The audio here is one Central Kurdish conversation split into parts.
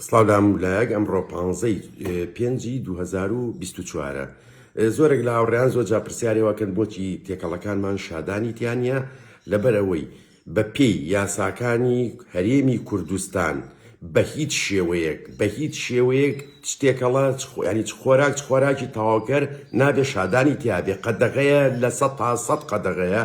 سڵاو لە هەموو لایەک ئەمڕۆ پانزەی پێنجی دوو هەزار و بیست و چوارە زۆرێک لە هاوڕێیان زۆر جا پرسیارێواکەن بۆچی تێکەڵەکانمان شادانی تیانە لەبەر ئەوەی بە پێی یاساکانی هەرێمی کوردستان بە هیچ شێوەیەک بە هیچ شێوەیەک شتێکەڵە ینی چ خۆراک چ خۆراکی تاواکەر نابێ شادانی تیاێ قەدەغەیە لە سە تا سەد قەدەغەیە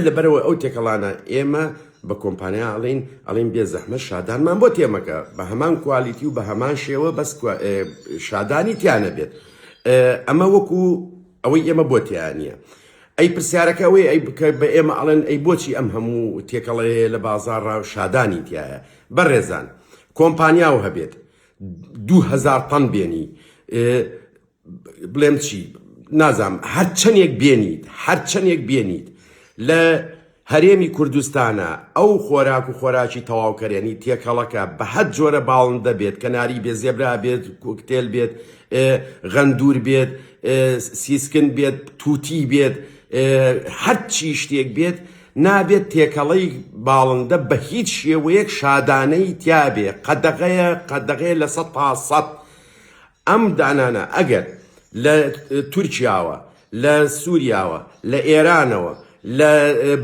لەبەرەوە ئەو تێکەڵانە ئێمە بە کۆمپانیا ئەڵێین ئەڵێن بێ زەحمەت شادانمان بۆ تێمەکە بە هەمان کوالیتی و بە هەمان شێوە بەس شادانی تیانەبێت ئەمە وەکو ئەوەی ئێمە بۆ تیانە ئەی پرسیارەکە ئەوەی ئەی بکە بە ئێمە ئەڵێن ئەی بۆچی ئەم هەموو تێکەڵەیە لە بازار ڕاو شادانی تایە بەڕێزان کۆمپانیا و هەبێت دوهزار تەن بێنی بڵێم چی نازام هەر چەندێک بێنیت هەر چەندێک بێنیت لە هەرێمی کوردستانە ئەو خۆراک و خۆراکی تەواوکەرێنی تێکەڵەکە بە هەر جۆرە باڵندە بێت کەناری بێت زێبرا بێت کوکتێل بێت غەندور بێت سیسکن بێت تووتی بێت هەر چی شتێک بێت نابێت تێکەڵەی باڵندە بە هیچ شێوەیەک شادانەی تیاابێ قەدەغەیە قەدەغەیە لە سە تا سەد ئەم دانانە ئەگەر لە تورکیاوە، لە سوریاوە، لە ئێرانەوە، لە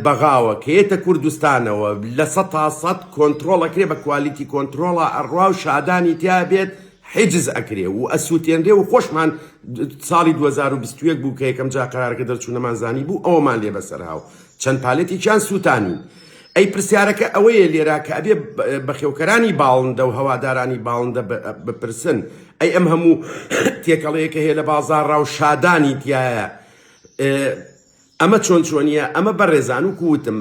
بەغاوە کە یەتە کوردستانەوە لە سەد تا سەد کۆنترۆڵ ئەکرێ بە کوالیتی کۆنترۆڵا ئەڕا و شادانی تیا بێت حیجز ئەکرێ و ئەسوتێنرێ و خۆشمان ساڵی دوو هەزار و بیست و یەک بوو کە یەکەم جا قەرارەکە دەرچوو نەمانزانی بوو ئەوەمان لێ بەسەرا و چەند پالێتێکیان سوتانین ئەی پرسیارەکە ئەوەیە لێرا کە ئەبێ بەخێوکەرانی باڵندە و هەوادارانی باڵندە بپرسن ئەی ئەم هەموو تێکەڵەیە کە هەیە لە بازاڕا و شادانی تایە ئەمە چۆن چۆنیە ئەمە بەڕێزان و کووتم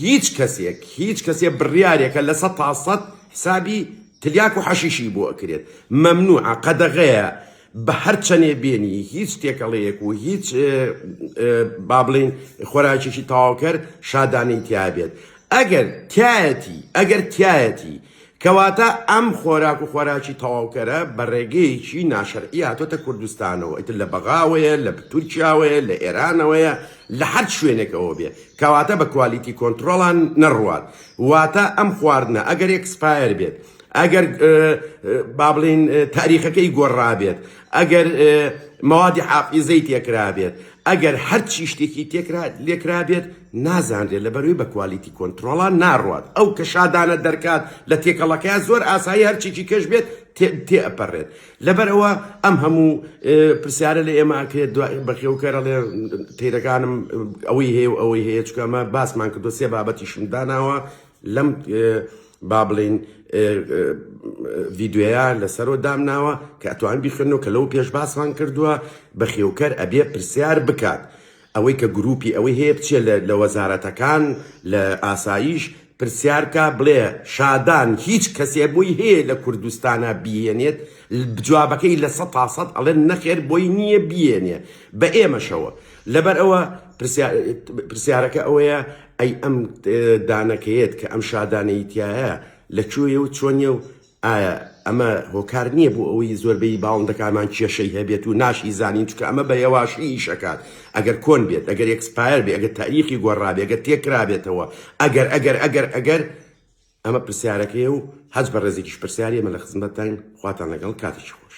هیچ کەسێک هیچ کەسێ بڕیارێکە لە سە تاسەد حسابی تلیاک و حەشیشی بۆ ئەکرێت مەمنوع قەدەغەیە بە هەر چەنێ بێنی هیچ تێکەڵەیەک و هیچ با بڵین خۆراکێکی تاواوکەر شادانەی تیابێت ئەگەر تایەتی ئەگەر تایەتی کەواتە ئەم خۆراک و خۆراکی تەواوکەرە بە ڕێگەیەکی ناشەرعی هاتۆتە کوردستانەوە ئیتر لە بەغاوەیە لە تورکیاوەیە لە ئێرانەوەیە لە هەر شوێنێکەوە بێ کەواتە بە کوالیتی کۆنتترۆڵان نەڕوات واتە ئەم خواردنە ئەگەر ئەکسپایر بێت ئەگەر بابلین تاریخەکەی گۆڕابێت ئەگەر مەوادی حافیزەی تێکرابێت ئەگەر هەر چی شتێکی تێکرا لێکرابێت نازانرێت لە بەروی بە کوالیتی کۆنتترۆڵە ناڕات ئەو کە شادانە دەرکات لە تێکەڵەکەی زۆر ئاسایی هەرچێکی کەش بێت تێپەڕێت لەبەرەوە ئەم هەموو پرسیارە لە ئێمە کرێت بەخێوکەرە لێ تیرەکانم ئەوەی هەیە و ئەوەی هەیە چکەمە باسمان کردو سێ بابەتیشم داناوە لەم با بڵێین ڤیددیوەیە لەسەرۆ دامناوە کە ئەتوان بیخنەوە کە لەو پێش باسمان کردووە بە خێوکەر ئەبێ پرسیار بکات ئەوەی کە گروپی ئەوەی هەیە بچێ لە وەزارەتەکان لە ئاساییش پرسیارکە بڵێ شادان هیچ کەسێ بۆی هەیە لە کوردستانە بیێنێت جوابەکەی لە سە تا سەد ئەڵێن نەخێر بۆی نییە بیێنێ بە ئێمەشەوە لەبەر ئەوە پرسیارەکە ئەوەیە ئەی ئەم دانەکەیەت کە ئەم شادانەی تایە لە کوێیە و چۆنیە و ئایا ئەمە هۆکار نییە بۆ ئەوەی زۆربەی باڵندەکانمان کێشەی هەبێت و ناشی زانین چکە ئەمە بە یەواشی ئیشەکات ئەگەر کۆن بێت ئەگەر ئێکسپایەر بێ ئەگەر تاریخی گۆڕابێ ئەگەر تێکرابێتەوە ئەگەر ئەگەر ئەگەر ئەگەر ئەمە پرسیارەکەی و هەست بە ڕێزێکیش پرسیارێمە لە خزمەتتان خواتان لەگەڵ کاتێکی خۆش